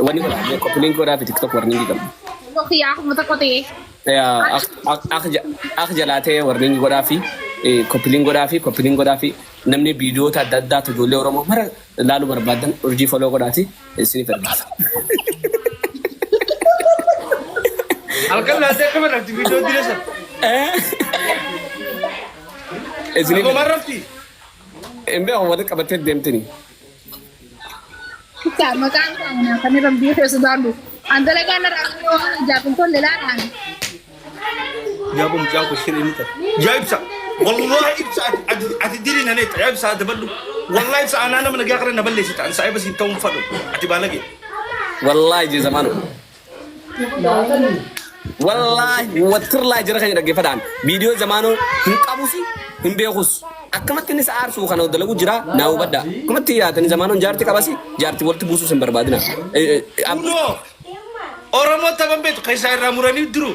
Wani kora me copy link kora fi TikTok warning gam. Look ya aku mata kote. Ya ak ak ak ja- ak jalate warning kora fi eh, copy link kora fi copy link kora fi namni video ta dadda to jole oromo mara lalu barbadan urji follow kora ti sini fergisa. Halkan laatee akka barraatti viidiyoo dira san. Sini Akkuma barrafti. Embe awwata qabate demtini. Kutaa maqaan isaa manaa kan irra biyya keessa baadhu. An dalagaa narra arginu waan ijaaf hin tolle laadhaan. Yaa bom jaa ko shirin ta. Ya ibsa. Wallahi ibsa ati ati diri na ne ta. Ya ibsa da baddu. Wallahi ibsa anana mana ga kare na balle shi ta. An sai basi tawun fadu. Ati balage. Wallahi je zamanu. Wallaahi wattirlaa jira keenya dhaggeeffataan viidiyoo zamaanoo hin qabus hin beekus akkamatti inni sa'aar suu kana dalagu jira naa hubadha akkamatti yaatanii zamaanoon jaarti qabasi jaarti walitti buusuus hin barbaadina. Kunoo Oromoo taban beektu keessaa irraa muranii duruu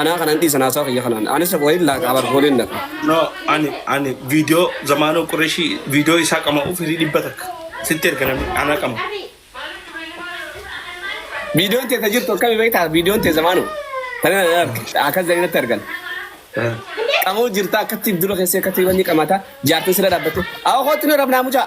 Anaa kanan dhiisan haasawa kiyya kanaan. Anis lafa waliin laaqa abar fooliin lafa. No ani ani video zamano qureshi video isa qama u firi dhibba takka sitti erga nami ana qama Viidiyoon tee ta jirtu akkami beektaa? Viidiyoon tee zamaanu. Tana na arge. Akkas jedhanii natti argan. Qamoo jirta akkatti dura keessee akkatti wanni qamata jaartin sira dhaabbate. Awa kootti nu rabnaa mucaa.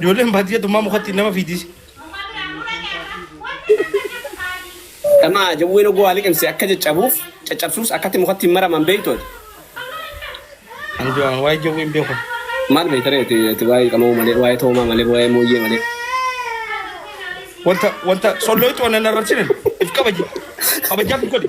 Ijoolleen baadiyyaa tummaa mukatti nama fiidisi. Dhama jawween oguu waa liqimse akka caccabuuf caccabsuus akkatti mukatti hin maraman beektooti. Ani du'aan waa'ee jawwee hin beeku. Maal beekta ree ati ati waa'ee qamoo malee waa'ee toomaa malee waa'ee mooyyee malee. Wanta wanta sollooytu waan nan arrabsine if kabaji. Kabajaaf hin godhi.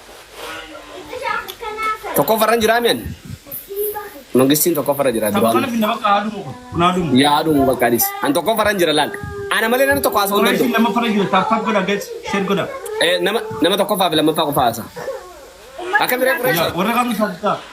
Tokkoffarran jiraa mi'an? Mangistiin tokkoffarra jira Tapha kana duraan. finna bakka haaduu muka. Kun haaduu muka. Yaa haaduu bakka adis. An tokkoffarran jira laal. Ana malee namni tokko haasa'uu hin Warra isin danda'u. lammaffara jiru taappaat godha gees sheer godha. Eh, Nama nama tokkoffaa fi lammaffaa qofa haasa. Akka biree Yaa qureesha. warra kaanu saaxitaa.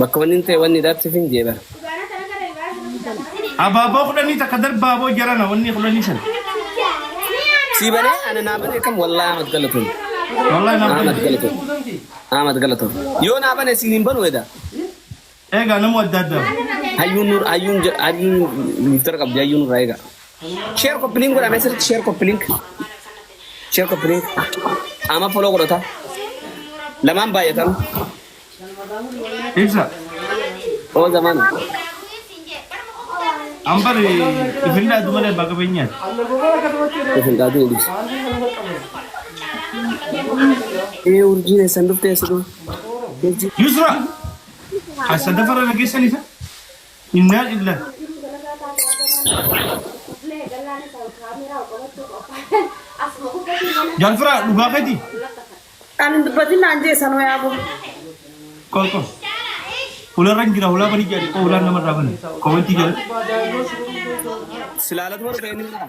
Bakka wanni hin ta'e wanni dabsif hin jee bara. Abaaboo kudhanii takka darbaaboo jarana wanni kudhanii san. Sii banee ana naa banee kam wallaa Ahmad galatoon. Wallahi naaf Ahmad banee. galatoon. Ahmad galatoon. Yoo naa banee siin hin banuu edaa. Eegaa namuu adda addaa. Hayyuun nur hayyuun je- hayyuun miftara qabdi hayyuun irraa egaa. Share copy link godha message share copy link. Share copy link. Ama follow godhota. Lamaan baay'atan. Ibsa. Oo zaman. Ambar ifin daatu malee baga beenyaan. Isin gaadu ibsa. Ee urjiin eessan dhuftee siduu. Yusra. As sadaffara nageessan isa. Innaa lillaah. Jaal firaa dhugaa keetii? Kan hin dubbatin naan jee sanoo yaa boo. Qoy qoy. Hularra hin jira hulaa banii jedhani qoy hulaan nama irraa bani. Komentii jalatti. Silaalatu warra ta'e ni jira.